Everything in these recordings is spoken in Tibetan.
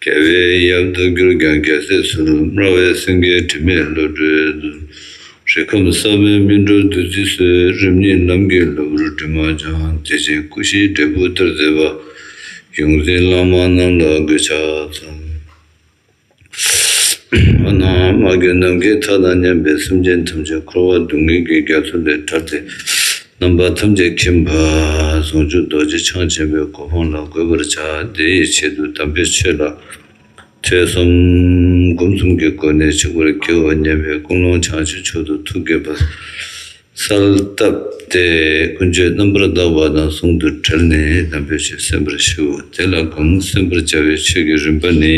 རྒྱལ་བའི་དབྱར་མདོ་གྱུར་ཀྱང་རྒྱལ་སྲས་སུ་སྨྲ་བའི་སེང་གེའི་དྲི་མེད་བློ་གྲོས། རིགས་ཁམས་ས་བོན་སྨིན་གྲོལ་བདུད་རྩི་གསོལ། རིམ་གཉིས་རྣམ་རྒྱལ་གློ་བུར་དྲི་མ་སྦྱངས། བདེ་ཆེན་སྐུ་བཞིའི་འབྲས་བུ་སྟེར་མཛད་པ། ཡོངས་འཛིན་བླ་མ་རྣམས་ལ་གུས་ཕྱག་འཚལ། མ་ནག་མ་གྱུར་ནམ་མཁའི་མཐའ་དང་མཉམ་པའི་སེམས་ཅན་ཐམས་ཅད་འཁོར་བ་སྡུག་བསྔལ་གྱི་རྒྱ་མཚོ་ལས་ཐར་ཏེ། རྣམ་པ་ཐམས་ཅད་མཁྱེན་པ་ཟུང་འཇུག་རྡོ་རྗེ་འཆང་ཆེན་པོའི་གོ་འཕང་ལ་འགོད་པར་བྱ། དེ་ཡི་ཆེད་དུ་དམ་པའི་ཆོས་ལ་ཐོས་བསམ་སྒོམ་གསུམ་གྱི་སྒོ་ནས་འཆི་བར་འགྱུར་བ་ཉེ་བའི་ཀུན་སློང་བྱང་ཆུབ་མཆོག་ཏུ་ཐུགས་དགྱེས་པ་གསལ་བཏབ་སྟེ་ཀུན་སྤྱོད་རྣམ་པར་དག་པ་དང་ཟུང་དུ་འབྲེལ་ནས་དམ་པའི་ཆོས་གསན་པར་ཞུའོ། དེ་ལ་གང་གསན་པར་བྱ་བའི་ཆོས་ཀྱི་རིམ་པ་ནི།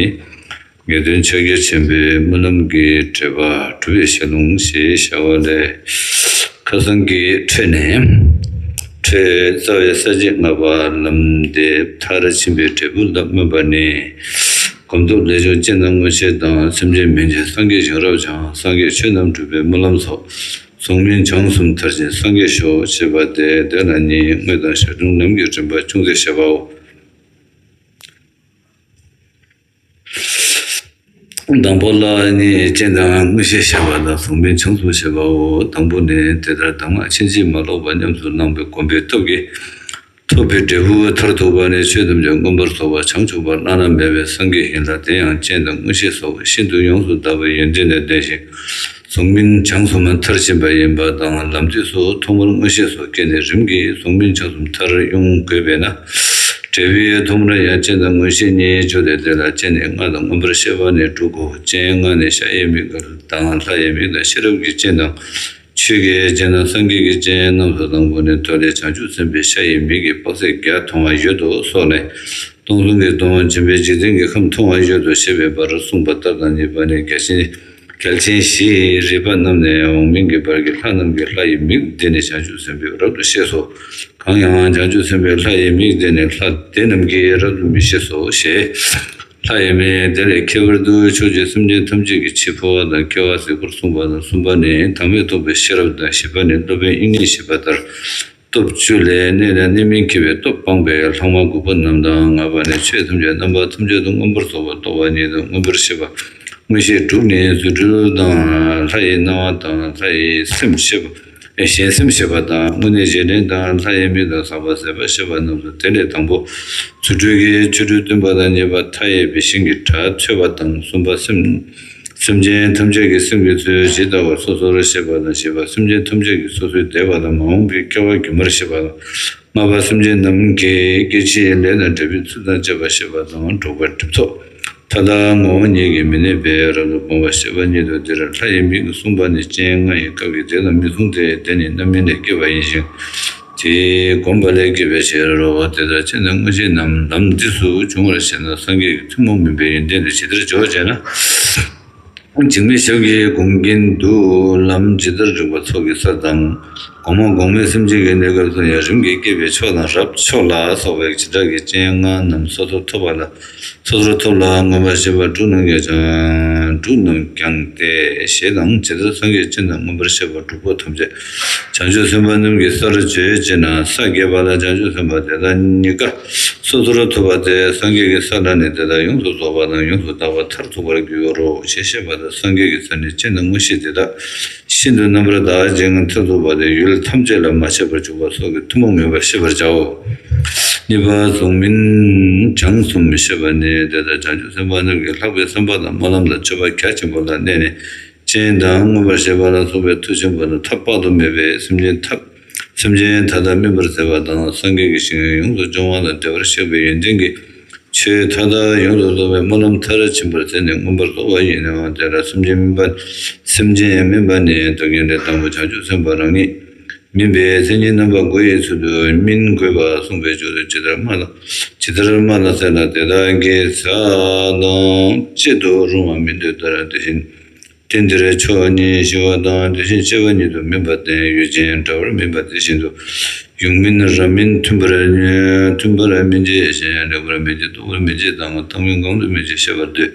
ངེས་དོན་ཕྱག་རྒྱ་ཆེན་པོའི་སྨོན་ལམ་གྱི་འགྲེལ་པ་གྲུབ་པའི་ཞལ་ལུང་ཞེས་བྱ་བ་ལས། མཁའ་གསང་གི་ཁྲོད་ནས་ཁྲོའི་རྩ་བའི་ས་བཅད་ལྔ་པ་ལམ་འདི་མཐར་ཕྱིན་པའི་འབྲས་བུ་ལ་སྨོན་པ་ནི། སྒོམ་སྟོབས་ལས་བྱུང་སྤྱན་དང་མངོན་ཤེས་དང་སེམས་ཅན་མིན་གྱི་སངས་རྒྱས་བྱུང་རབ་བྱང་སངས་རྒྱས་ཆོས་རྣམས་གྲུབ་པའི་སྨོན་ལམ་སོགས་གཟུང་མིན་བྱང་གསུམ་མཐར་ཕྱིན་སངས་རྒྱས་ཤོག་ཅེས་པ་སྟེ་དེ་ལ་ནི་དངོས་དང་ཞར་བྱུང་ལམ་གྱི་རིམ་པ་ཅུང་ཟད་བཤད་པའོ། དང་པོ་ལ་ནི་སྤྱན་དང་དངོས་གཞི་བཤད་པ་ལ་གཟུང་མིང་བྱང་གཟུགས་བཤད་པའོ། དང་པོ་ནི་དེ་ལྟར་གདམས་ངག་ཕྱིན་ཅི་མ་ལོག་པ་ཉམས་སུ་བླངས་པའི་སྒོམ་པའི་སྟོབས་ཀྱིས་ཐོབ་པའི་འབྲས་བུ་མཐར་ཐུག་པ་ནི་ཆོས་ཐམས་ཅད་མངོན་པར་རྫོགས་པ་བྱང་ཆུབ་པ་བླ་ན་མེད་པའི་སངས་རྒྱས་ཡིན་ལ་དེ་ཡང་སྤྱན་དང་དངོས་གཞི་སོགས་ཤིན་ཏུ་ཡོངས་སུ་དག་པའི་ཡོན་ཏན་ལས་ལྡན་ཞིང། གཟུགས་མིན་བྱང་སུམ་མཐར་ཕྱིན་པ་ཡིན་པ་དང་ལམ་དུས་སུ་ཐོག་མར་མངོན་ཤེས་སུ་སྐྱེས་ནས་རིམ་གྱིས་གཟུགས་མིན་བྱང་སུམ་མཐར་དབྱུང་དགོས་པས་ན། འབྲས་བུའི་ཐོག་མར་ཡང་སྤྱན་དང་མངོན་ཤེས་གཉིས་བཅུ་ལས་དེ་ལ་སྤྱན་ནི་སྔགས་དང་མངོན་པར་ཤེས་པ་ནི་དྲུག་གོ་སྤྱན་སྔགས་ནི་ཤ་ཡི་མིག་དང་ལྷ་ཡི་མིག་དང་ཤེས་རབ་ཀྱི་སྤྱན་དང། ཆོས་ཀྱི་སྤྱན་དང་སངས་རྒྱས་ཀྱི་སྤྱན་རྣམས་སུ་དང་པོ་ནས་ཐོས་ནས་བྱང་ཆུབ་སེམས་དཔའི་ཤ་ཡི་མིག་གིས་དཔག་ཚད་བརྒྱ་མཐོང་བ་ཡོད་དོ་སོགས་ནས། སྟོང་གསུམ་གྱི་སྟོང་བྱིན་པས་འཇིག་རྟེན་གྱི་ཁམས་མཐོང་བ་ཡོད་དོ་ཞེས་པའི་བར་གསུངས་པ་ལྟར་དང་གཉིས་པ་ནི་བརྒྱ་བྱིན། གལ་ཆེན་བཞི་རིས་པ་རྣམས་ནས་འོག་མིན་གྱི་བར་གྱི་ལྷ་རྣམས་ཀྱི་ལྷ་ཡི་མིག་བདེ་ནས་བྱང་ཆུབ་སེམས་དཔའི་རབ་ཏུ་ཤེས་སོ། གང་ཡང་བྱང་ཆུབ་སེམས་དཔའི་ལྷ་ཡི་མིག་བདེ་ནས་ལྷ་དེ་རྣམས་ཀྱིས་རབ་ཏུ་མི་ཤེས་སོ་ཞེས། ལྷ་ཡི་མིག་དེ་ལས་ཁྱད་པར་དུ་ཕྱོགས་བཅུའི་སེམས་ཅན་ཐམས་ཅད་ཀྱི་ཕྱིར་འཕོ་བ་དང་སྐྱེ་བ་གཟིགས་པར་གསུངས་པ་དང་གསུམ་པ་ནི་དྭངས་མས་སྟོང་པའི་ཤེས་རབ་དང་བཞི་པ་ནི་སློབ་དཔོན་དབྱིག་གཉེན་ཞེས་པ་ལྟར། སྟོབས་བཅུ་ལས་གནས་དང་གནས་མིན་འཁྱེར་བའི་སྟོབས་སྤངས་པས་ལྷག་མ་དགུ་པོ་རྣམས་དང་ལྔ་པ་ནས་ཆོས་ཐམས་ཅད་རྣམ་པ་ཐམས་ཅད་དུ་མངོན་པར་རྫོགས་པར་རྟོགས་པ་ཉིད་དུ་མངོན་པར་ཤེས་པ། མངོན་ཤེས་དྲུག་ནི་རྫུ་འཕྲུལ་དང་ལྷ་ཡི་སྣང་བ་དང་ལྷ་ཡི་སེམས་ཤེས་པ། གཞན་སེམས་ཤེས་པ་དང་དངོས་གནས་གཞན་དྲིང་དང་ལྷ་ཡི་མིག་དང་ཟག་པ་ཟད་པ་ཤེས་པ་རྣམས་སོ་དེ་ལས་དང་པོ་རྫུ་འཕྲུལ་གྱིས་ཆོ་འཕྲུལ་སྟོན་པ་དང་གཉིས་པ་མཐའ་ཡས་པའི་ཞིང་གི་གྲྭ་ཚོལ་བ་དང་གསུམ་པ་སེམས་སེམས་ཅན་ཐམས་ཅད་ཀྱི་སེམས་ཀྱི་ཚུལ་ཇི་ལྟ་བར་སོ་སོར་ཤེས་པ་དང་ཞེས་པ་སེམས་ཅན་ཐམས་ཅད་ཀྱི་སོ་སོའི་བདེ་བ་དང་མ་འོངས་པའི་སྐལ་བ་རྒྱུན་པར་ཤེས་པ་དང། ལྔ་པ་སེམས་ཅན་རྣམས་ཀྱི་སྐྱེ་འཆིའི་ལས་དང་འབྲས་བུའི་ཚུལ་དང་བཅས་པ་ཤེས་པ་དང་འགྲོགས་པའི་སྒྲིབ་ཚོགས་མཐའ་དག་ངོ་བོ་ཉིད་ཀྱིས་མི་གནས་པས་རབ་ཏུ་སྤོང་བ་ཞེས་པ་ཉིད་དོ་འདིར་ལྷ་ཡི་མིག་གསུངས་པ་ནི་སྤྱན་ལྔ་ཡི་སྐབས་ཀྱི་དེ་ལ་མི་གསུངས་ཏེ་དེ་ནི་རྣམ་སྨིན་ལས་སྐྱེས་པ་ཡིན་ཞིང། དེས་བསྒོམས་པ་ལས་སྐྱེས་པའི་ཕྱིར་རོ། དེ་ལྟར་ཕྱིན་ན་དངོས་གཞི་ནམ་ལམ་འདི་སུ་བྱུང་བར་ཤེས་ན་སངས་རྒྱས་ཀྱི་ཐུན་མོང་མིན་པའི་ཡོན་ཏན་དེ་ཇི་ལྟར་འབྱོར་བ་ཅེ་ན། འཇིགས་མེད་ཞབས་ཀྱིས་བསྒོམ་གྱིན་འདུག་ལམ་ཇི་ལྟར་རིང་བ་ཚོགས་ཀྱི་ས་དང། གོང་མ་གོང་མའི་སེམས་ཅན་གྱི་གནས་སྐབས་སུ་ཡང་རིམ་གྱིས་སྐྱེས་པའི་ཕྱོགས་དང་རབ་མཆོག་ལ་སོགས་པའི་བྱེ་བྲག་གི་སྤྱན་ལྔ་རྣམས་སོ་སོར་ཐོབ་པ་ལ། ཚོགས་རོལ་ཐོབ་ལ་མངོན་པར་ཤེས་པ་འབྲུ་རྣམས་ཀྱང་སྦྱང། འབྲུ་རྣམས་ཀྱང་སྟེ་ཞེས་དང་ཇི་ལྟར་སངས་རྒྱས་སྤྱན་དང་མངོན་པར་ཤེས་པ་དྲུག་པོ་ཐམས་ཅད་བྱང་ཆུབ་སེམས་དཔའ་རྣམས་ཀྱི་སར་བརྗོད་ཅེ་ན་ས་བརྒྱད་པ་ལ་བྱང་ཆུབ་སེམས་དཔའ་དེ་དག་གཉི་ག་སོ་སོར་ཐོབ་པ་སྟེ་སངས་རྒྱས་ཀྱི་ས་ལ་ནི་དེ་དག་ཡོངས་སུ་རྫོགས་པ་དང་ཡོངས་སུ་དག་པ་མཐར་ཐུག་པར་འགྱུར་རོ་ཞེས་བཤད་པ་ལྟར་སངས་རྒྱས་ཀྱི་ས་ནི་སྤྱན་དང་མངོན་ཤེས་དེ་དག་ཤིན་ཏུ་རྣམ་པར་དག་པའི་སྦྱིན་གྱི་མཐུ་ཐོབ་པ་དེ་ཡུལ་ཐམས་ཅད་ལ་མ་ཆད་པར་འཇུག་པ་སོགས་ཀྱི་ཐུན་མོང་མིན་པར་ཤེས་པར་བྱའོ། གཉིས་པ་གཟུགས་མིན་བྱང་གསུམ་མི་ཤེས་པ་ནི་དེ་དང་བྱང་ཆུབ་སེམས་དཔའ་རྣམས་ཀྱི་ལྷག་པའི་སེམས་དཔའ་དང་སྨོན་ལམ་དང་མཆོད་པ་གལ་ཆེན་པོ་ལ་གནས་ནས་སྤྱན་དང་མངོན་པར་ཞལ་ཕྱག་ལ་སོགས་པའི་མཐུ་ཆེན་པོ་དང་ཐབས་དཔག་ཏུ་མེད་པའི་སེམས་ཅན་ཐབས་སེམས་ཅན་ཐ་དད་སྨིན་པར་མཛད་པ་དང་སངས་རྒྱས་ཀྱི་ཞིང་ཡོངས་སུ་སྦྱོང་བ་ལ་བདེ་བར་གཤེགས་པའི་ཡོན་ཏན་གྱི་ཆོས་མཐའ་དག་ཡོངས་སུ་རྫོགས་པའི་སྨོན་ལམ་མཐར་ཕྱིན་པར་མཛད་ནས་མངོན་པར་རྫོགས་པ་ཡིན་ནོ། དེ་ལ་སེམས་ཅན་སྨིན་པ། སེམས་ཅན་སྨིན་པ་ནི་རྡོ་རྒྱན་ལས་དང་པོ་བྱང་ཆུབ་སེམས་དཔའ་རང་ཉིད་སྨིན་པའི་མཚན་ཉིད་རྣམ་པ་དགུ་ཡི་ཚུལ་དུ་སྨིན་དགོས་པར་གསུངས་པའི་ཆོས་སུ་ཇི་ལྟར་སྨྲ་ལ། ཇི་ལྟར་སྨྲ་ལ་ཟེར་ལ་དེ་དག་གིས་ཚེ་དང་དཔྱད་དུ་རུང་བ་མི་འདོད་ལྟར་དེ་བཞིན་དུས་འདིར་ཕྱོགས་གཉིས་ཞི་བ་དང་དེ་བཞིན་གཅེས་པ་ཉིད་དུ་མིན་པ་བརྟེན་ཡུལ་ཅན་འདྲ་བར་མིན་པ་དེ་བཞིན་དུ། ཡུམ་མིན་རབ་མིན་མཐུན་པར་མཐུན་པར་མི་འབྱེད་ཞེས་ལེགས་པར་མི་འབྱེད་སྟུག་པོར་མི་འབྱེད་དང་ཐག་མི་འགང་དུ་མི་འབྱེད་ཤེས་པར་འདོད།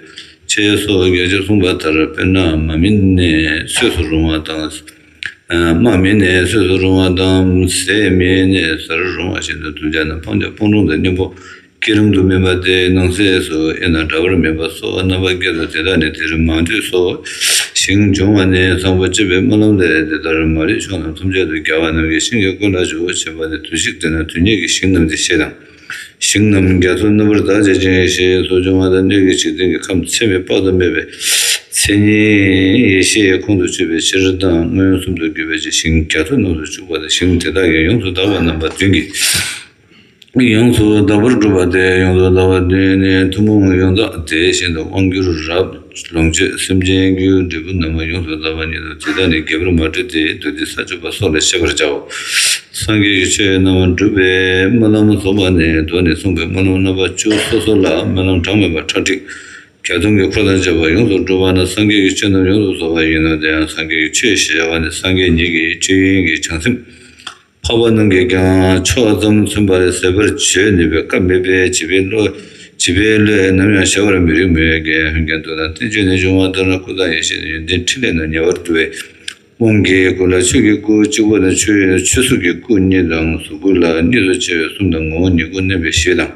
ཅེས་སོགས་བརྒྱད་ཅུར་གསུངས་པ་ལྟར་དཔེར་ན་མ་མིན་ནས་སོས་སུ་རུང་བ་དང། རྨ་མིན་ནས་སོས་སུ་རུང་བ་དང། ཟས་མིན་ནས་ཟ་རུ་རུང་བ་བཞིན་དུ་གདུལ་བྱ་རྣམས་སྤང་བྱ་སྤོང་གྲུང་དང་གཉེན་པོ། སྐས་རུམ་དུ་སྨིན་པ་སྟེ་ནང་གསེས་སུ་དབྱེ་ན་འདྲ་པར་སྨིན་པ་སོགས་རྣམ་པ་བརྒྱད་དོ་དེ་དག་ནི་དེ་རིང་མང་ཆོས་སོ་ཞིང་སྦྱོང་བ་ནི་གསང་ཕུ་བཅད་པའི་སྨོན་ལམ་ལས་དེ་ལྟར་མ་རིག་ཕྱོགས་རྣམས་ཐམས་ཅད་དུ་རྒྱལ་བ་རྣམས་ཀྱི་ཞིང་གི་ཀུན་ལ་ཆུ་བོ་ཆེ་བ་ནི་དུས་ཤིག་དེ་ན་དུས་ཉིད་ཀྱི་ཞིང་རྣམས་ཀྱི་ཤེས་དང། ཞིང་རྣམས་རྒྱ་མཚོ་རྣམ་པར་དག་བྱེད་ཅིང་ཞེས་སོགས་འབྱུང་བ་དང་སྣོད་ཀྱི་འཇིག་རྟེན་གྱི་ཁམས་ཚད་མེད་དཔག་ཏུ་མེད་པའི་མཚན་ཉིད་ཡེ་ཤེས་ཁོང་དུ་ཆུད་པའི་ཕྱིར་དང་མངོན་སུམ་དུ་གྱུར་པའི་ཕྱིར་ཞིང་རྒྱ་མཚོ་རྣམས་སུ་བཅུག་པ་ལ་ཞིང་དེ་དག་གི་ཡོངས་སུ་དག་པ་རྣམ་པ་བདུན་གྱི། ཡོངས་སུ་དག་པར་སྒྲུབ་པ་སྟེ་ཡོངས་སུ་དག་པ་བདུན་ནི་ཐུན་མོང་ཡོངས་རྫོགས་དེ་བཞིན་དུ་དབང་བསྒྱུར་རབ་ལོངས་སྤྱོད་སེམས་ཅན་རྒྱུའི་འབྲས་བུ་རྣམས་ཡོངས་སུ་དག་པ་ཉིད་དུ་དེ་དག་ནི་རྒྱས་པར་མ་བཀྲུས་ཏེ་བདུད་སྡེ་ས་བཅུ་པ་སོགས་ལས་ཤེས་པར་བྱའོ། སངས་རྒྱས་ཀྱི་ཆོས་རྣམས་བསྒྲུབ་པའི་སྨོན་ལམ་རྫོགས་པ་ནས་གདོད་ནས་གསུངས་པའི་སྨོན་ལམ་རྣམ་པ་བཅུ་སོ་སོ་ལ་སྨོན་ལམ་གྲངས་མེད་པ་ཁྲག་ཁྲིག་གྱ་གསུམ་གྱི་འཁོར་དང་བཅས་པ་ཡོངས་སུ་བསྒྲུབ་པ་ན་སངས་རྒྱས་ཀྱི་ཆོས་རྣམས་ཡོངས་སུ་རྫོགས་པ་ཡིན་ནོ་དེ་ཡང་སངས་རྒྱས་ཀྱི་ཆོས་ཞེས་བྱ་བ་ནི་སངས་རྒྱས་ཉིད་ཀྱི་ཆོས་དབྱིངས་ཀྱི་བྱང་སེམས། འཕགས་པ་རྣམས་ཀྱིས་ཀྱང་ཕྱོགས་མཚམས་མཚོན་པར་ཟད་པར་བྱོས་ནུས་པའི་སྐབས་མེད་པས་བྱིས་པའི་བློས་ནམ་ཡང་གཞལ་བར་མི་རིགས་མོད། རྒན་ཧུན་གྱིང་དུ་དང་བསྟན་བཅོས་ནས་འབྱུང་བ་ལྟར་ན་སྐུ་དང་ཡེ་ཤེས་ནི་ཡོན་ཏན་ཕྲིན་ལས་རྣམས་ཉེ་བར་བསྡུ་བའི་དབང་གིས་སྐུ་ལ་ཆོས་ཀྱི་སྐུ་གཅིག་པུ་དང་ཆོས་གཟུགས་ཀྱི་སྐུ་གཉིས་དང་གཟུགས་སྐུ་ལ་གཉིས་སུ་ཕྱེ་བའི་གསུམ་དང་ངོ་བོ་ཉིད་སྐུ་བསྣན་པའི་ཞེས་དང།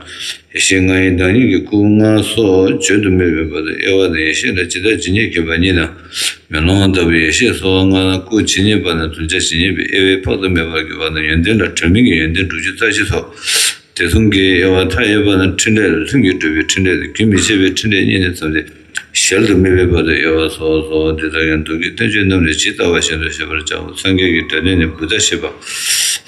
ཡེ་ཤེས་ལྔའི་བདག་ཉིད་ཀྱི་སྐུ་ལྔ་སོགས་བརྗོད་དུ་མེད་པའི་བར་དུ་དབྱེ་བ་དང་ཡེ་ཤེས་ལ་ཇི་ལྟར་ཇི་སྙེད་མཁྱེན་པ་ཉིད་དང། མེ་ལོང་ལྟ་བུའི་ཡེ་ཤེས་སོགས་ལྔ་དང་སྐུ་ཇི་སྙེད་པ་ནས་དུ་བྱ་ཇི་སྙེད་པའི་དབྱེ་བས་དཔག་ཏུ་མེད་པར་གྱུར་པ་ན་ཡོན་ཏན་ལ་དྲོད་མིན་གྱི་ཡོན་ཏན་དྲུག་ཅུ་རྩ་བཞི་སོགས་དེ་གསུམ་གའི་དབྱེ་བ་མཐའ་ཡས་པ་ན་ཕྲིན་ལས་ལ་ལྷུན་གྱིས་གྲུབ་པའི་ཕྲིན་ལས་དང་རྒྱུན་མི་འཆད་པའི་ཕྲིན་ལས་གཉིས་ནས་བརྩམས་ཏེ་ཞལ་དུ་མི་འབེབས་པར་དུ་དབྱེ་བ་སོགས་སོ། འདི་དག་ཀྱང་མདོ་གི་བསྟན་བཅོས་རྣམས་ལས་ཇི་ལྟ་བ་བཞིན་དུ་ཤེས་པར་བྱའོ། སངས་རྒྱས་ཀྱི་འདོད་ལྡན་ནི་བུདྡྷ་ཤེས་པ།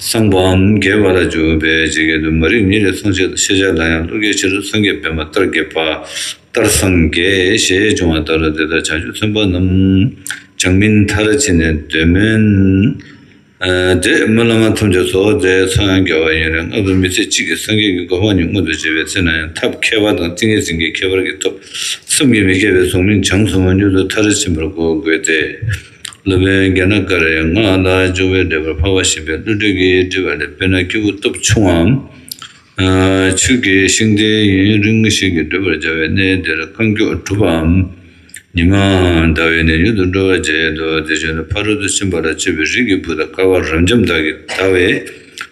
སངས་པའམ་རྒྱས་པ་ལ་སྦྱོར་བས་ཇི་སྐད་དུ་མ་རིག་ཉིད་ལས་ཚོགས་ཆད་དོ་ཤེས་བྱ་ལ་ཡང་བློ་རྒྱས་ཕྱིར་སངས་རྒྱས་བེམ་པོ་ལྟར་འགྱེད་པ། ལྟར་སངས་རྒྱས་ཞེས་འབྱུང་བ་ལྟར་དེ་ལྟར་བྱ་སྤྱོད་མཚོན་པ་རྣམས་བྱང་མིན་མཐར་ཕྱིན་ནས་འདོད་མིན། འབྲས་བུ་བླ་མ་ཐམས་ཅད་སོགས་རྫས་འཚོལ་རྒྱ་བ་ཡིན་རུང་སྔ་དུས་མི་ཚེ་གཅིག་གི་སངས་རྒྱས་ཀྱི་དགོས་དཔང་ཉུང་ངུ་དུ་བྱེད་པའི་ཚེ་ན་ཡང་ཐབས་མཁས་པ་དང་ཏིང་ངེ་འཛིན་གྱི་ཁྱད་པར་གྱི་ཐོབ་བསམ་གྱིས་མི་ཁྱབ་པའི་གཟུང་མིན་བྱང་གཟུང་བ་མྱུར་དུ་མཐར་ཕྱིན་པར་གོ་དགོས་ཏེ། སློབ་དཔོན་རྒྱ་ནག་ཀ་རའི་སྔགས་ལ་འཇུག་པའི་འགྲེལ་པར་འཕགས་པ་གཤིན་པའི་བློ་གྲོས་ཀྱིས་བྲིས་པ་ལས་དཔེར་ན་སྐྱེས་བུ་སྟོབས་ཆུང་བའམ་ཆོས་ཀྱི་ཤིང་རྟའི་ཡུན་རིང་ཞིག་གིས་འདོད་པར་བྱ་བའི་གནས་དེར་རྐང་མགྱོགས་གྲུ་པའམ་ཉི་མའང་ཟླ་བའི་ནི་ཡུལ་དུ་འགྲོ་བར་བྱེད་དོ་དེ་བཞིན་དུ་ཕ་རོལ་ཏུ་ཕྱིན་པ་ལ་སྤྱོད་པའི་རིགས་ཀྱི་བུ་དང་སྐལ་བ་རབ་འབྱམས་དག་གིས་དག་བའི་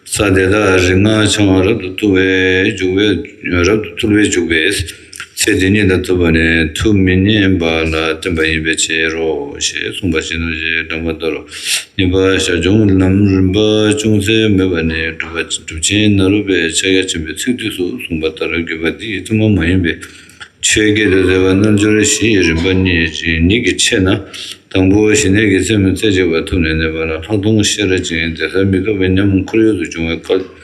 ས་དེ་དག་རིག་སྔགས་འཆང་བ་རབ་ཏུ་ཐུལ་བས་འཇུག་པས་རབ་ཏུ་ཐུལ་བས་འཇུག་པས་ཚེ་འདི་ཉིད་ལ་བཏུབ་པ་ནི་ཐུགས་མི་མཉེན་པ་ལ་བརྟེན་པ་ཡིན་པའི་ཕྱིར་རོ་ཞེས་གསུངས་པ་བཞིན་ནོ་ཞེས་སྒྲོ་མ་དོར། གཉིས་པ་ཞར་བྱུང་ལམ་རིམ་པ་ཅུང་ཟད་མོས་པ་ནི་སྒྲུབ་ཆེན་ནཱ་རོ་པའི་ཕྱག་རྒྱ་ཆེན་པོའི་ཚིག་བསྡུས་སུ་གསུངས་པ་ལྟར་བརྒྱུད་པ་འདིའི་གཙོ་མོ་མ་ཡིན་པའི་ཆོས་བརྒྱད་དུ་ཟད་པ་རྣལ་འབྱོར་བཞིའི་རིམ་པ་ཉིད་ཀྱི་ཆེད་ན་དང་པོ་ཞི་གནས་ཀྱི་རྩེ་མོ་རྩེ་གཅིག་པ་ཐུབ་ནས་གནས་པ་ལ་ལྷག་མཐོང་ཤེས་རབ་ཅན་དེ་ཟབ་མི་རྟོག་པའི་ཉམས་ཁོར་ཡུག་ཏུ་བྱུང་བའི་སྐབས།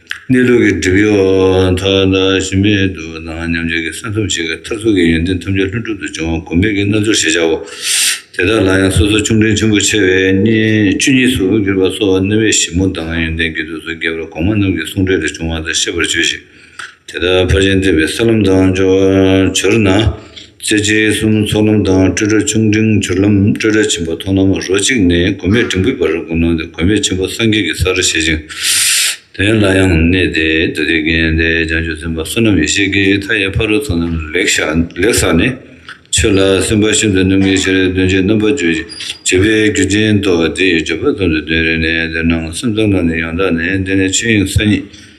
གནས་ལུགས་ཀྱི་སྒྲིབ་གཡོགས་མཐའ་དག་ཞི་མེད་དུ་སྣང་སྙམ་བྱེད་ཀྱི་ས་ཐོབ་བྱེད་ཀྱི་མཐར་ཐུག་གི་ཡོན་ཏན་ཐམས་ཅད་ལྷུན་གྲུབ་ཏུ་འབྱུང་བ་སྒོམ་མེད་ཀྱི་རྣལ་འབྱོར་ཞེས་བྱའོ། དེ་དག་ལ་ཡང་སོ་སོར་ཆུང་འབྲིང་ཆེན་པོ་ཆེ་བའི་བཅུ་གཉིས་སུ་གྱུར་པ་སོགས་རྣམ་དབྱེ་ཞིབ་མོ་དང་ཡོན་ཏན་དགེ་སྡུག་སོགས་རྒྱས་པར་གོང་མ་རྣམས་ཀྱི་གསུང་འགྲེལ་ལས་འབྱུང་བ་དག་ཤེས་པར་བྱོས་ཤིག། དེ་དག་ཕར་ཕྱིན་བསྟན་པའི་ས་ལམ་དང་སྦྱོར་ན། རྩེ་རྗེ་གསུམ་ཚོགས་ལམ་དང་སྤྲོས་བྲལ་ཆུང་འབྲིང་སྦྱོར་ལམ་སྤྲོས་བྲལ་ཆེན་པོ་མཐོང་ལམ་རོ་གཅིག་ནས་དགོས་མེད་འབྲིང་པོའི་བར་བསྒོམ་ལམ་དེ་དགོས་མེད་ཆེན་པོ་སངས་རྒྱས་ཀྱི་སར་བཞེད་ཅིང། དེ་ལ་ཡང་གནས་དེ་དུ་དེ་བརྒྱན་ཏེ་བྱང་ཆུབ་སེམས་དཔའ་བསོད་ནམས་ཡེ་ཤེས་ཀྱི་མཐའ་ཡས་ཕ་རོལ་ཚོགས་རྣམས་ལེགས་བཞག་ནས། ཆོས་ལ་སེམས་དཔའ་ཤིན་ཏུ་རྣམ་ངེས་ཤེས་རབ་སྟོན་བྱེད་རྣམ་པར་བརྗོད་ཅིང་བྱེད་པའི་རྒྱུ་ཅན་ཏོ། དེའི་སྦྱོར་བ་ཙམ་དུ་དོན་རེ་ནས་དོན་སྣང་སེམས་ཙམ་ལ་ནི་ཡང་དག་ནས་འདི་ནི་ཆོས་དབྱིངས་ས་ཉིད།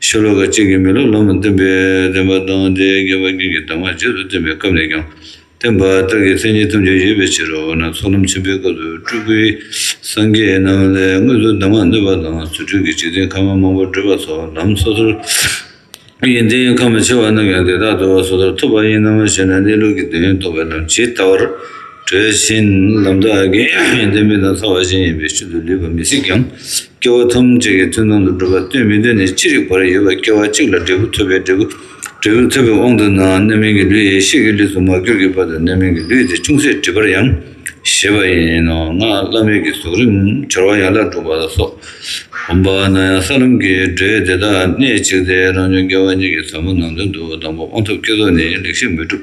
ཤོ་ལོ་ཀ་གཅིག་གིས་མི་ལོ་ལོ་མང་བསྟན་པའི་བདེན་པ་དང་དེའི་དགེ་བ་རྒྱུན་གྱི་གདམས་ངག་རྗེས་སུ་བསྟན་པའི་སྐབས་ནས་ཀྱང་བསྟན་པ་ལྟར་གྱི་མཚན་ཉིད་ཐམས་ཅད་ཡོད་པའི་ཕྱིར་འོ་ན་ཚོགས་ལམ་ཆེན་པོའི་སྐབས་སུ་སྤྲུལ་སྐུའི་སངས་རྒྱས་རྣམས་ལས་དངོས་སུ་གདམས་ངག་ནོད་པ་དང་རྫུ་འཕྲུལ་གྱི་འཇིག་རྟེན་ཁམས་མ་མང་པོར་བགྲོད་པ་ཚོགས་ལམ་སོ་སོར་ཡོན་ཏན་ཁམས་མ་ཕྱེ་བ་རྣམས་ཀྱང་དེ་དག་ཏུ་སོ་སོར་ཐུབ་པ་ཡིན་ནམ་ཞེ་ན་གནས་ལུགས་ཀྱི་དོན་རྟོགས་པའི་ལམ་ཇི་ལྟ་བར་དྲོད་བཞིན་ལམ་དག་དགེ་བའི་དོན་ཕུན་དང་ཚོགས་བ་བཞིན་ཡིན་པའི་ཤུལ་དུ་ལུས་པ་མི་སྲིད་ཀྱང། སྐྱེ་བོ་ཐམས་ཅད་ཀྱི་ཐུན་མཐོང་དུ་འགྲོ་བ་སྟོན་མི་སྟོན་ནི་ཅི་རིགས་པར་ཡོད་པ་སྐྱེ་བ་གཅིག་ལ་འབྲས་བུ་ཐོབ་པའི་འབྲས་བུ། འབྲས་བུ་ཐོབ་པའི་དབང་དུ་ནའང་རྣམ་སྨིན་གྱི་ལུས་ཡེ་ཤེས་ཀྱི་ལུས་སུ་མ་གྱུར་གྱི་བར་དུ་རྣམ་སྨིན་གྱི་ལུས་དེ་ཅུང་ཟད་འགྲིབ་པར་ཡང་བཞེད་པ་ཡིན་ནོ། སྔགས་བླ་མེད་ཀྱི་ཟོག་རིམ་བྱར་བ་ཡན་ལག་དྲུག་པ་ལ་སོགས། འོན་པ་ན་ཡང་ས་ལམ་གྱི་འབྲས་དེ་དག་གནད་གཅིག་སྟེ་རང་བྱུང་སྐལ་བ་གཉིས་ཀྱི་ཟབ་མོ་ནང་དོན་དུ་དང་པོ་དབང་ཐོབ་བསྐྱེད་རྫོགས་ནི་ལེགས་བཤད་མོས་གྲུབ།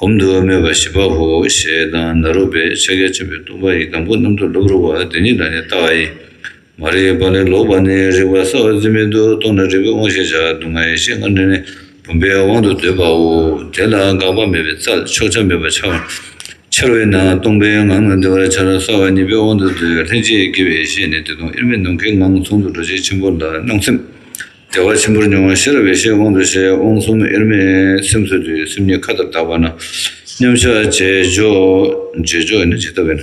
སྒོམ་དུ་སྨོས་པ་བཞི་པ་ཧོ་ཞེས་དང་ནཱ་རོ་པའི་ཕྱག་རྒྱ་ཆེན་པོའི་སྟོང་པ་ཡི་དམ་སྐུ་གནམ་དུ་ལྷུབ་རུ་བ་འདི་ཉིད་ལ་ནི་ལྟ་བ་ཡི། མ་རིག་པ་ལས་ལོག་པ་ནི་རིག་པ་ས་བ་འཛིན་མེད་དུ་རྟོགས་ན་རིག་པའི་དབང་ཤེས་བྱ་སྡུག་བསྔལ་ཡེ་ཤེས་ལྔ་འདྲེས་ནས་བུམ་པའི་དབང་དུ་འདོད་པའོ། དེ་ལ་འགག་པ་མེད་པའི་རྩལ་ཕྱོགས་ཆ་མེད་པར་འཆར་བ་འཆར་བས་ན་སྟོང་པའི་ངང་ལ་བདེ་བར་འཆར་ས་བ་ཉིད་པའི་དབང་དུ་འདོད་ལྷན་སྐྱེས་དགེ་བའི་བཤེས་ནི་དེ་སྟོང་དབྱེར་མེད་ནམ་མཁའི་ངང་ཚོགས་འདུ་རྡོ་རྗེ་ཆེན་པོ་ལ་སྣང་སེམས། བདེ་བ་ཆེན་པོར་མྱོང་བ་ཤེས་རབ་ཡེ་ཤེས་དབང་དུ་བྱས་དབང་གསུམ་དབྱེར་མེད་སེམས་གསོས་དུས་སེམས་ཉིད་མཁའ་ལྟར་དག་པ་ན། མཉམ་གཞག་རྗེས་འཇོག་རྗེས་འཇོག་ནི་ཇི་ལྟ་བས་ན།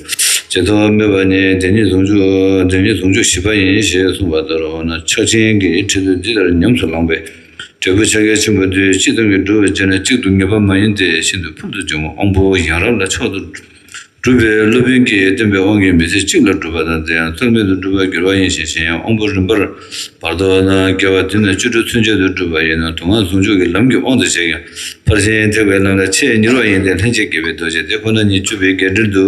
ཇི་ལྟ་བ་མེད་པ་ནི་དེ་ཉིད་ཟུང་འཇུག་དེ་ཉིད་ཟུང་འཇུག་བཞི་པ་ཡིན་ཞེས་གསུངས་པ་ལྟར་འོ་ན་ཕྱག་ཆེན་གྱི་ཁྲིད་ཚུལ་འདི་ལྟར་ཉམས་སུ་བླངས་པས། འབྲས་བུ་ཕྱག་རྒྱ་ཆེན་པོ་དུས་གཅིག་ཏུ་མི་འགྲུབ་པར་བྱས་ན་གཅིག་ཏུ་ངེས་པ་མ་ཡིན་ཏེ་ཤིན་ཏུ་ཕུལ་དུ་བྱུང་བ་དབང་པོ་ཡང་རབ་ལ་མཆོག་ཏུ་སྒྲུབ་པའི་སློབ་དཔོན་གྱིས་སྟོན་པའི་དབང་གིས་མི་ཚེ་གཅིག་ལ་སྒྲུབ་པ་དང་དེ་ཡང་རྩོལ་མེད་དུ་སྒྲུབ་པར་འགྱུར་བ་ཡིན་ཞེས་གཞན་ཡང་དབང་པོ་རིམ་པར་བར་དོ་ན་བསྐལ་བ་འདི་ན་བཅུ་དྲུག་ཚུན་ཆད་དུ་སྒྲུབ་པ་ཡིན་ནོ་དུག་ལྔ་ཟུང་འཇུག་གི་ལམ་གྱི་དབང་དུ་བྱས་ཀྱང་ཕར་ཕྱིན་ཐེག་པའི་ལམ་ལ་ཆེས་མྱུར་བ་ཡིན་ཏེ་ལྷན་སྐྱེས་དགེ་བའི་རྡོ་རྗེ་དེ་ཁོ་ན་ཉིད་བཅུ་པའི་བརྒྱད་ཁྲིར་འདུ་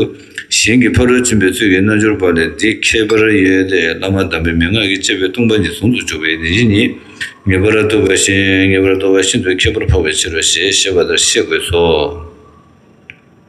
ཞིང་གི་ཕ་རོལ་ཕྱིན་པའི་ཚུལ་གྱིས་རྣལ་འབྱོར་པ་ལས་འདི་ཁྱད་པར་ཡོད་དེ་བླ་མ་དམ་པའི་མན་ངག་གིས་བཅས་པའི་ལྟུང་བ་ཉིད་ཟུང་དུ་འཇུག་པའི་ནད་གཞི་ཉིད་ངེས་པར་རྟོགས་པ་བཞིན་ངེས་པར་རྟོགས་པ་ཤིན་ཏུ་ཁྱད་པར་འཕགས་པའི་ཕྱིར་རོ་ཞེས་བཤད་པ་ལྟར་ཤེས་དགོས་སོ།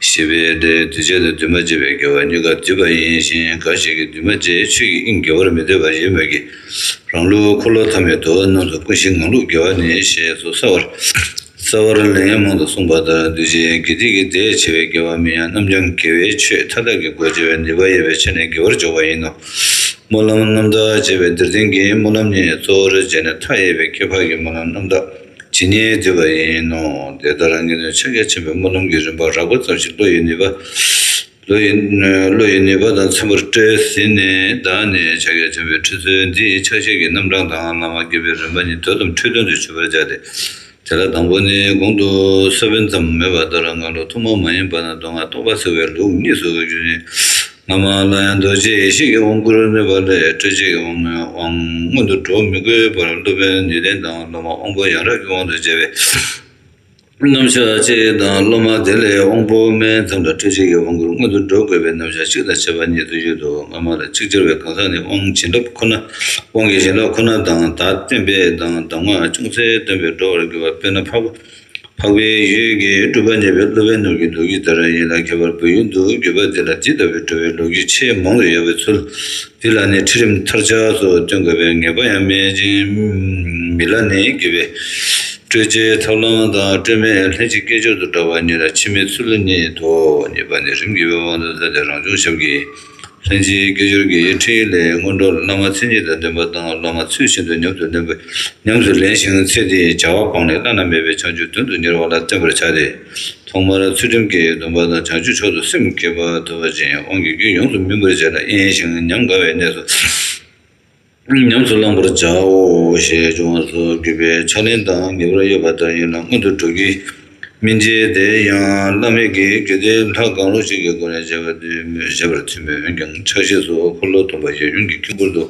ཞེས་པས་དེའི་འདུས་བྱས་ལ་འདུས་མ་བྱས་པའི་དགེ་བ་གཉིས་ཀ་སྡུད་པ་ཡིན་ཞིང་གང་ཞིག་གིས་འདུས་མ་བྱས་ཆོས་ཀྱི་དབྱིངས་དགེ་བར་མི་འདོད་པ་ཡོད་མོད་ཀྱི། རང་ལུགས་འཁོར་ལོ་ཐ་མའི་འདུལ་བ་རྣམས་སུ་ཀུན་གཞི་ངང་ལུགས་དགེ་བ་ནི་ཞེས་སོགས་གསལ་བར་གསལ་བར་ལན་ཡང་མང་དུ་གསུངས་པ་ལྟར་འདུས་བྱས་དགེ་སྡིག་གི་ཟླས་ཕྱེ་བའི་དགེ་བ་མིན་ཡང་རྣམ་བྱང་དགེ་བའི་ཆོས་མཐའ་དག་གི་སྒོ་འབྱེད་པའི་ནུས་པ་ཡོད་པའི་ཕྱིར་ནི་དགེ་བར་འཇོག་པ་ཡིན་ནོ། སྨོན་ལམ་རྣམ་དག་ཅེས་པའི་འདིར་བསྟན་གྱི་སྨོན་ལམ་ནི་གཙོ་བོར་བྱས་ནས་མཐའ་ཡས་པའི་ཁྱད་འཕགས་ཀྱི་སྨོན་ལམ་རྣམ་དག། ཇི་སྙེད་བརྗོད་པ་ཡིན་ནོ། དེ་ལྟར་ངེས་དོན་ཕྱག་རྒྱ་ཆེན་པོའི་སྨོན་ལམ་གྱི་རིམ་པ་རགས་པ་ཙམ་ཞིག་བློ་ཡི་ནུས་པ་དང་མཚུངས་པར་སྤྲོས་ཟིན་ནས་བདག་ནི་ཕྱག་རྒྱ་ཆེན་པོའི་ཁྲིད་སྲོལ་འདིའི་ཕྱག་བཞེས་ཀྱི་རྣམ་གྲངས་དང་བླ་མ་དགེ་བའི་རིམ་པ་གཉིས་དོན་དམ་འཁྲུལ་དོན་དུ་ཆུད་པར་བྱ་སྟེ། དེ་ལ་དང་པོ་ནི་གོང་དུ་ས་བོན་ཙམ་མོས་པ་ལྟར་སྔ་ལོ་ཐོག་མ་མ་ཡིན་པ་ན་མདོ་སྔགས་སྟོང་པ་བསྲེ་བའི་ལུགས་གཉིས་སུ་བཞུགས་ཤིང། སྔ་མ་ལ་ཡང་རྡོ་རྗེ་ཡེ་ཤེས་ཀྱི་དབང་བསྐུར་ནུས་པ་ལས་སྤྲོས་བཅས་ཀྱི་དབང་ངོ། མངོན་དུ་འགྲོ་མི་དགོས་པར་སློབ་དཔོན་ནུས་ལྡན་དང་སློབ་མ་དབང་པོ་ཡང་རབ་ཀྱི་དབང་དུ་བྱས་པས། རྣམ་གཞག་གཅིག་དང་སློབ་མ་དེ་ལས་དབང་པོ་དམན་ཙམ་ལ་སྤྲོས་བཅས་ཀྱི་དབང་བསྐུར་མངོན་དུ་འགྲོ་དགོས་པས་རྣམ་གཞག་གཅིག་དང་བྱེད་པ་གཉིས་སུ་གཡོས་འདུག་སྔ་མ་ལ་ཅིག་ཅར་བའི་གང་ཟག་ནི་དབང་བྱིན་རླབས་ཁོ་ན་དབང་གི་བྱིན་རླབས་ཁོ་ན་དང་དག་བསྟན་པས་དང་གདམས་ངག་ཅུང་ཟད་སྟོན་པས་འགྲོ་བར་འགྱུར་བ་དཔེར་ན་ཕག་པ་འཕགས་པའི་ཡུལ་གྱི་སྤྲུལ་པ་ཉེ་བའི་སློབ་བན་ནོར་གྱི་ལོ་རྒྱུས་ལྟར་ཡིན་ལ་ཁྱད་པར་བོད་ཡུལ་དུ་བརྒྱུད་པ་འདི་ལ་འདི་ལྟ་བུའི་བྲོ་བའི་ལོ་རྒྱུས་ཆེས་མང་དུ་ཡོད་པའི་ཚུལ། འདི་ལ་ནི་ཁྲིད་རིམ་མཐར་ཆགས་སུ་སྟོན་དགོས་པའི་ངེས་པ་ཡང་མེད་ཅིང། མི་ལ་ནི་བརྒྱུད་པའི་སྤྲོས་བཅས་ཐབས་ལམ་དང་སྤྲོས་མེད་ལྷན་ཅིག་སྐྱེས་སྦྱོར་དུ་འདྲ་བ་ཉིད་ལ་ཕྱི་མའི་ཚུལ་ཉིད་དོ། གཉིས་པ་ནི་རིམ་གྱིས་དབང་དུ་སླེབས་ཏེ་རང་བྱུང་ཞབས་ཀྱིས། ལྷན་སྐྱེས་སྐད་ཅོར་གྱི་འཕྲིན་ལས་སྔོན་འགྲོར་བླ་མ་ཚེ་གཉིས་དང་འདུན་པ་དང་སློབ་མ་ཚུལ་བཞིན་དུ་ཉམས་སུ་ལེན་དགོས། ཉམས་སུ་ལེན་ཞིང་ཚེ་འདིའི་བྱ་བ་སྤངས་ནས་བླ་ན་མེད་པའི་བྱང་ཆུབ་དོན་དུ་གཉེར་བ་ལ་བརྟེན་པར་བྱ་སྟེ། ཐོག་མར་ཚུལ་ཁྲིམས་ཀྱི་སྡོམ་པ་དང་བྱང་ཆུབ་མཆོག་ཏུ་སེམས་བསྐྱེད་པ་ཐོབ་པ་ཅན་དབང་གི་རྒྱུན་ཡོངས་སུ་སྨིན་པར་བྱས་ལ་གཡེང་ཞིང་ཉམས་དགའ་བའི་གནས་སུ། ཉམས་སུ་བླང་བར་བྱའོ་ཞེས་འབྱུང་བ་སོགས་བརྒྱུད་པའི་ཕྱག་ལེན་དང་ཉེ་བར་གཡོ་བ་ལྟར་ཡིན་ལ་སྔོན་དུ་འགྲོ་གི་མི་མཇེད་དེ་ཡང་བླ་མེད་ཀྱི་རྒྱུད་སྡེ་ལྷ་གང་རུང་ཞིག་གི་སྒོ་ནས་བྱ་བ་འདི་མོས་བྱེད་པར་ཐུག་མོད་འོན་ཀྱང་ཕྱག་བཞེས་སུ་འཁོར་ལོ་སྡོམ་པ་ཡབ་ཡུམ་གྱི་དཀྱིལ་འཁོར་དུ་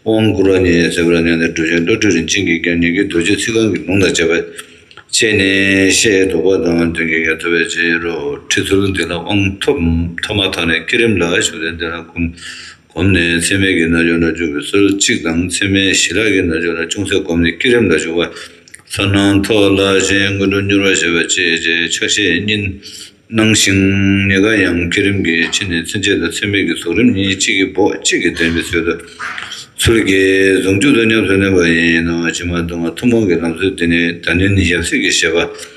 དབང་བསྐུར་བ་ཉིད་ཟད་པར་མྱང་སྟེ་སྒྲུབ་ཆེན་བློ་གྲོས་རིན་ཆེན་གྱིས་ཀྱང་ཉེ་དགའི་རྡོ་རྗེ་ཚིག་རྐང་གི་ལུང་དང་བཅས་པ་བཅད་ནས་བཤད་དོ་བ་དང་དོན་གྱི་ཡ་ཐོབ་པའི་ཕྱིར་རོ་ཁྲིད་ཚུལ་འདི་ལ་དབང་ཐོབ་ཐོབ་མ་ཐག་ནས་བསྐྱེད་རིམ་ལ་ཞུགས་ཏེ་འདི་ལ་གོམས། བསྒོམ་ནས་མཚན་མེད་ཀྱི་རྣལ་འབྱོར་ལ་འཇུག་པའི་སོར་གཅིག་དང་མཚན་མེད་ཞི་རགས་ཀྱི་རྣལ་འབྱོར་ལ་ཅུང་ཟད་བསྒོམས་ནས་བསྐྱེད་རིམ་ལ་འཇུག་པ། ལྷར་སྣང་ཐོག་བླ་ཆེན་མངོན་འགྲོ་མྱུར་བར་བྱེད་པ་བཅས་བཅས་ཕྱག་བཞེས་གཉིས། སྣང་ཞིང་ཉེ་དགའ་ཡང་བསྐྱེད་རིམ་གྱི་ཕྱི་ནས་མཚན་བཅས་དང་མཚན་མེད་ཀྱི་ཟུང་རིམ་གཉིས་གཅིག་གིས་འབོགས་གཅིག་གིས་འདྲེན་པའི་ཚུལ་དུ། ཚུལ་གྱིས་ཟུང་འཇུག་ཏུ་ཉམས་སུ་ལེན་པ་ཡིན་ནོ། ཕྱི་མ་གདོད་མ་ཐུན་མོང་གི་ལམ་སྲོལ་འདི་ནི་དགྲ་ནན་ཡབ་སྲས་ཀྱི་བཞེད་པ།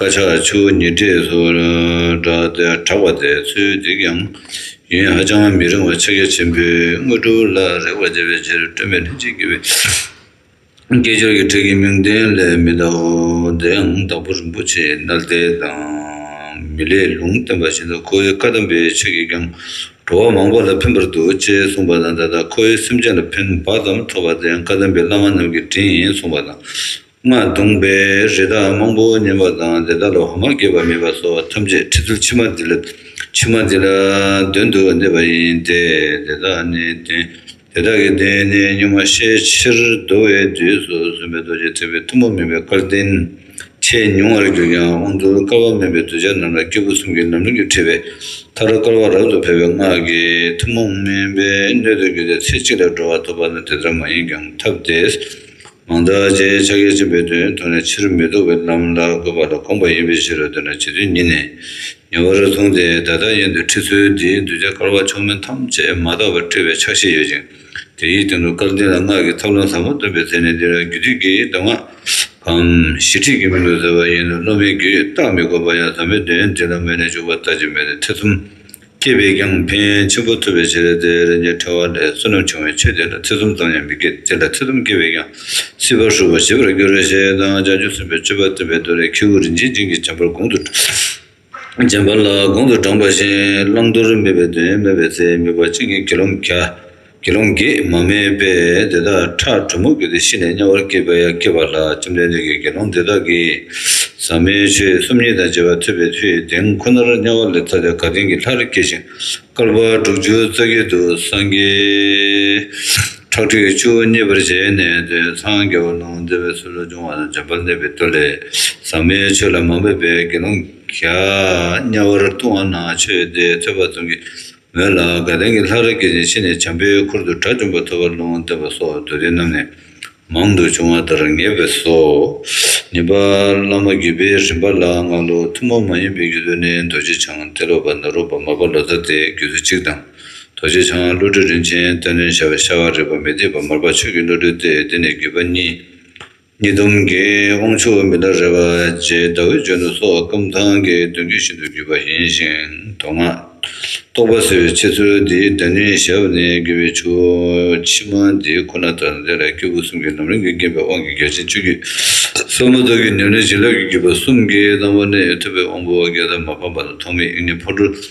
བཀའ་ཤག་ཆུ་བོ་ཉིས་སྟེགས་སུ་གྲགས་པ་དེའི་ཚུལ་འདི་ཡང་ཡུན་ཧ་ཅང་མི་རིང་བར་ཕྱག་རྒྱ་ཆེན་པོས་དངོས་གྲུབ་ལ་རེག་པར་བྱེད་པའི་ཕྱིར་སྤྲོས་མེད་ལྷན་ཅིག་སྐྱེས་པའི་སྐྱེས་སྦྱོར་གྱི་ཁྲིད་ཀྱི་མིང་དོན་ལས་མི་འདའོ། དེའང་དང་པོ་རིན་པོ་ཆེའི་རྣལ་བརྟན་དང་མི་ལའི་ལུང་བསྟན་པ་བཞིན་དུ་ཁོ་བོའི་བཀའ་གདམས་པའི་ཆོས་ཀྱིས་ཀྱང་འགྲོ་བ་མང་པོ་ལ་ཕན་པར་འདུག་ཅེས་གསུངས་པ་དང་ད་ལྟ་ཁོ་བོའི་སེམས་ཅན་ལ་ཕན་བག་ཙམ་ཐོབ་པ་དེའང་བཀའ་གདམས་པའི་བླ་མ་རྣམས་ཀྱི་དྲིན་ཡིན་གསུངས་པ་དང། སྔགས་བརྡུངས་པས་རི་དྭགས་རྨོངས་པོ་ཉེན་པ་དང་དེ་དག་ལ་འོ་མ་བསྐྱོད་པ་མེད་པ་སོགས་ཐམས་ཅད་ཁྲི་ཚུར་ཕྱི་མ་འདི་ལ་ཕྱི་མ་འདི་ལ་གདོན་དུ་གནས་པ་ཡིན་ཏེ། དེ་དག་ནི་གདོན། དེ་དག་གི་གདོན་ནི་གཉུག་མ་ཤས་ཆེར་བདོ་བའི་དུས་སུ་སུན་པའི་རྡོ་རྗེ་ཐེག་པའི་ཐུན་མོང་མིན་པའི་སྐལ་ལྡན། ཆེས་ཉུང་བར་གྱུར་ཀྱང་དབང་བསྡུར་དཀའ་བ་མིན་པའི་གདུལ་བྱ་རྣམས་ལ་སྐྱེས་བུ་གསུམ་གྱི་ལམ་རིམ་གྱིས་ཁྲིད་པའི་མཐར་དཀར་བ་རབ་ཏུ་འཕེལ་བའི་སྔགས་ཀྱི་ཐུན་མོང་མིན་པའི་སྣོད་དུ་གྱུར་ཏེ་ཚེ་གཅིག་ལ་འགྲོ་བ་ཐོབ་པ་ནི་དེ་ལྟར་མ་ཡིན་ཀྱང་ཐབས་དེས། མང་དག་ཅེས་ཕྱག་རྒྱ་ཆེན་པོའི་དོན་མཐོང་ནས་ཕྱིར་མི་ལྡོག་པའི་ལམ་ལ་འགོད་པ་ལ་དགོངས་པ་ཡིན་པའི་ཕྱིར་རོ་འདོད་ན་བྱེད་དོན་ཉིད་ནས་ཉེ་བར་མཐོང་སྟེ་བདག་བདག་གཉེན་དུ་ཁྲིད་ཚུལ་འདིའི་གདུལ་བྱ་སྐལ་བ་མཆོག་དམན་ཐམས་ཅད་མ་དག་པར་བཀྲི་བའི་ཕྱག་བཞེས་ཡོད་ཅིང་དེ་ཡི་སྟེང་དུ་སྐལ་ལྡན་ལ་སྔགས་ཀྱི་ཐབས་ལམ་ཟབ་མོ་སྟོན་པའི་ཚེ་ནི་འདི་ལ་རྒྱུད་སྡེ་དགེའི་མདོ་སྔགས་བམ་བཞི་ཁྲིད་ཀྱི་མི་འདུག་ཟེར་བ་ཡིན་ནོ་བློ་མིག་གིས་བརྟག་མི་དགོས་པར་ཡང་ཟབ་མོའི་དོན་འདི་ལ་མོས་ནས་འཇུག་པ་ལྟ་ཅི་སྨོས་ཏེ་ཐེ་ཚོམ་སྐྱེས་པས་ཀྱང་ཕན་ཆེན་པོ་ཐོབ་པའི་ཕྱིར་དེའི་རིན་ཆེན་ཕྲ་བ་ལས་བསོད་ནམས་ཆུང་བའི་ཆོས་དེ་ལ་ཐེ་ཚོམ་ཙམ་ཡང་མི་སྐྱེད་དེ་ལ་ཐེ་ཚོམ་སྐྱེས་པས་ཀྱང་སྲིད་པར་ཞུགས་པར་བྱེད་པར་འགྱུར་བའི་ཞེས་དང་ལྕགས་ཀྱུ་གསུམ་པའི་སྤྱོད་པ་སྟོན་པའི་མདོ་ལས་ཁྱེའུ་རིན་ཆེན་སྦྱིན་གྱི་བྱམས་པར་དགུང་དུ་བྱམས་པ་ལ་དགུང་དུ་འགྲངས་པ་བཞིན་བླང་དོར་མེད་པའི་དོན་སྨོས་པའི་ཚེ་དམིགས་པ་གཅིག་ཉིད་དགེ་སློང་གྱ་དགེ་སློང་རྒས་མ་མེད་པས་དེ་དག་ཁྲག་དྲོན་མོ་བུས་ཏེ་ཤི་ནས་དམྱལ་བར་སྐྱེས་པ་ཡང་སྐྱེ་བ་ལ་བཅོམ་ལྡན་འདས་ཀྱིས་དགེ་སློང་དེ་དག་གིས་ཟག་མེད་ཆོས་སུམ་ཉིད་དང་བཅས་པ་ཐོས་པའི་ཚུལ་གྱིས་དེང་ཁོ་ནར་དམྱལ་བ་ལས་ཐར་ཏེ་དགའ་ལྡན་གྱི་ལྷར་སྐྱེ་ཞིང་བསྐལ་པ་དྲུག་ཅུ་རྩ་བརྒྱད་དུ་སངས་རྒྱས། ཁྲག་ཁྲིག་བཅུ་གཉིས་པར་བྱས་ནས་དེ་སངས་རྒྱ་བ་ལུང་བསྟན་པའི་ཚུལ་ལོ་ཆུང་བ་དང་འཇམ་དཔལ་གནས་པའི་བསྟོད་ལས་ཟག་མེད་ཆོས་ལ་མ་འབད་པའི་དགེ་སློང་གིས་དམྱལ་བར་ལྟུང་བ་ན་ཆོས་དེ་ཐོས་པ་ཙམ་གྱིས་མོད་ལ་དགའ་ལྡན་གྱི་ལྷ་རིགས་ཀྱི་རིན་ཆེན་ནི་བྱམས་པའི་ཁུར་དུ་དགྲ་བཅོམ་པ་ཐོབ་པར་ལུང་བསྟན་པ་སོགས་མདོ་སྡེ་རྣམས་ནས་མང་དུ་འབྱུང་བ་ལྟར་ངེས་པས་སོ། ཉེས་པ། བླ་མ་བརྒྱུད་པའི་རིམ་པ་ལ་སྔ་ལོ་ཐུན་མོང་མ་ཡིན་པའི་རྒྱུད་དུ་ནི་རྡོ་རྗེ་འཆང་ཏེ་ལོ་པ་ནཱ་རོ་པདྨ་པ་ལོ་ཙཱ་སྟེ་རྒྱུད་དུ་གཅིག་དང། རྡོ་རྗེ་འཆང་བློ་གྲོས་རིན་ཆེན་སྟོན་ལོན་བྱ་བའི་ཤ་བ་རིག་པ་མི་སྡིག་པ་མར་པ་ཆོས་ཀྱི་བློ་གྲོས་ཏེ་འདི་ནི་བརྒྱུད་པ་གཉིས། ཉིས་སྟོང་གི་དབང་ཕྱུག་མི་ལ་རས་པ་རྗེ་ཟླ་འོད་འཇོན་ནུ་སོགས་སྐམ་ཐང་གི་གདོན་བརྒྱུད་ཤིན་ཏུ་བརྒྱུད་པ་ཡིན་ཞིང་མདོ་སྔགས་རྟོགས་པ་སོའི་འཆད་ཚུལ་འདིའི་བདག་ཉིད་ཞབས་ནས་བརྒྱུད་པའི་ཆུ་བོ་ཕྱི་མ་འདི་ཁོ་ན་དང་དེ་ལ་སྐྱེས་བུ་གསུམ་གྱི་ལམ་རིམ་གྱིས་བསྐྱེད་པའི་དབང་གིས་རྒྱལ་ཆེན་བཅུ་རྒྱུད་གསུམ་མ་ཐོབ་ཀྱི་ཉམས་ལེན་བྱིན་རླབས་ཀྱི་བརྒྱུད་པ་གསུམ་གྱིས་བླང་བ་ནི་ཐུབ་པའི་དབང་པོ་བརྒྱད་དུ་མ་ཕམ་པ་དང་ཐོགས་མེད་དབྱིངས་ནས་འཕོ་འགྲོ།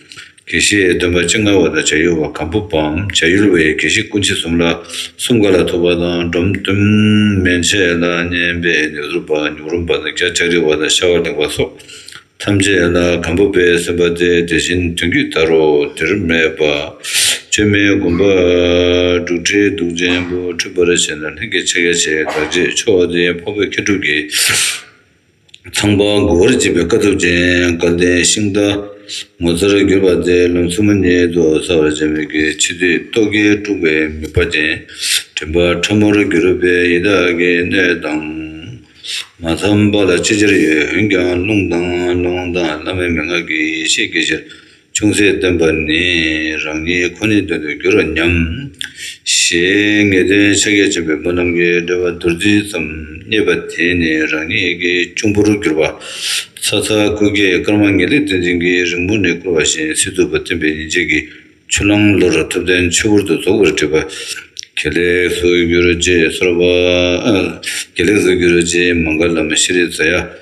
དགེ་བཤེས་སྟོན་པ་སྤྱི་ལྔ་བ་དང་བྱ་ཡུལ་བ་གམ་པོ་པའམ་བྱ་ཡུལ་བའི་དགེ་བཤེས་སྐུ་མཆེད་གསུམ་ལ་གསུམ་ག་ལ་ཐུབ་པ་དང་སྒྲོམ་གཏུམ་མན་ཆད་ལ་བསྙེན་པའི་ལེགས་གསུང་པ་ཉུག་རུམ་པ་དང་བརྒྱ་ལྕགས་རིལ་བ་དང་ཤ་བ་ལེགས་པ་སོགས་ཐམས་ཅད་ལ་གམ་པོ་པའི་སེམས་པ་སྟེ་དེ་བཞིན་དོན་བརྒྱུད་ད་རོ་འདིར་སྨྲས་པ། བཅོས་མའི་དགོན་པ་འབྲུག་ཁྲི་གདུགས་ཆེན་པོ་འཁྲུལ་པར་བྱས་ན་ལྷན་སྐྱེས་ཕྱག་རྒྱ་ཆེ་བའི་དགག་བྱའི་ཕྱོགས་དེ་ཕ་བོད་མཁས་གྲུབ་ཀྱི། ཚངས་པ་མགོ་བོར་བཅིབས་པའི་དཀའ་ཐུབ་ཅན་དགའ་ལྡན་ཤིང་རྟ། ངོ་མཚར་གྱུར་པ་དེ་ལོ་མཚོ་མོ་ཉིད་དུ་གསལ་བར་བྱས་མོད་ཀྱི་ཕྱི་ཚེས་རྟོག་གེ་དཀྲུགས་པའི་མིག་པ་ཅན་དྲན་པ་ཕྲ་མོར་གྱུར་པས་ཡི་དྭགས་ཀྱི་སྣོད་དང། མ་འཚམས་པ་ལ་ཅི་བྱར་ཡོད་འོན་ཀྱང་རླུང་དང་རླུང་དང་བླ་མའི་མན་ངག་གིས་ཡེ་ཤེས་ཀྱི་ཕྱིར། ཅུང་ཟད་སྟོན་པ་ནི་རང་ཉིད་ཁོ་ནའི་དོན་དུ་འགྱུར་རོ་སྙམ། ཞེས་ངེས་དོན་ཕྱག་རྒྱ་ཆེན་པོའི་བུ་རྣམས་ཀྱི་སྒྲོལ་བ་བདུད་རྩི་ཙམ་རྙེད་པ་དེ་ནི་རང་ཉིད་ཀྱི་གཅུང་པོར་གྱུར་པ། ཚ་ཚ་ཀུ་ཀའི་སྐར་མ་ངེས་ལེགས་བསྟན་འཛིན་གྱིས་རིང་མོ་ནས་བསྐུར་བ་བཞིན་སྲིད་ཐུབ་པ་བསྟན་པའི་ཉིན་བྱེད་ཀྱི་ཆུ་ལམ་ལོར་ཐུབ་བསྟན་ཆོས་སྐོར་དུ་རྫོགས་པར་བྲིས་པ། དགེ་ལེགས་སུ་གྱུར་ཅེས་གསོལ་པ། དགེ་ལེགས་སུ་གྱུར་ཅེས་མངྒ་ལམ་ཤྲཱི་རི་ཛཱ་ཡ།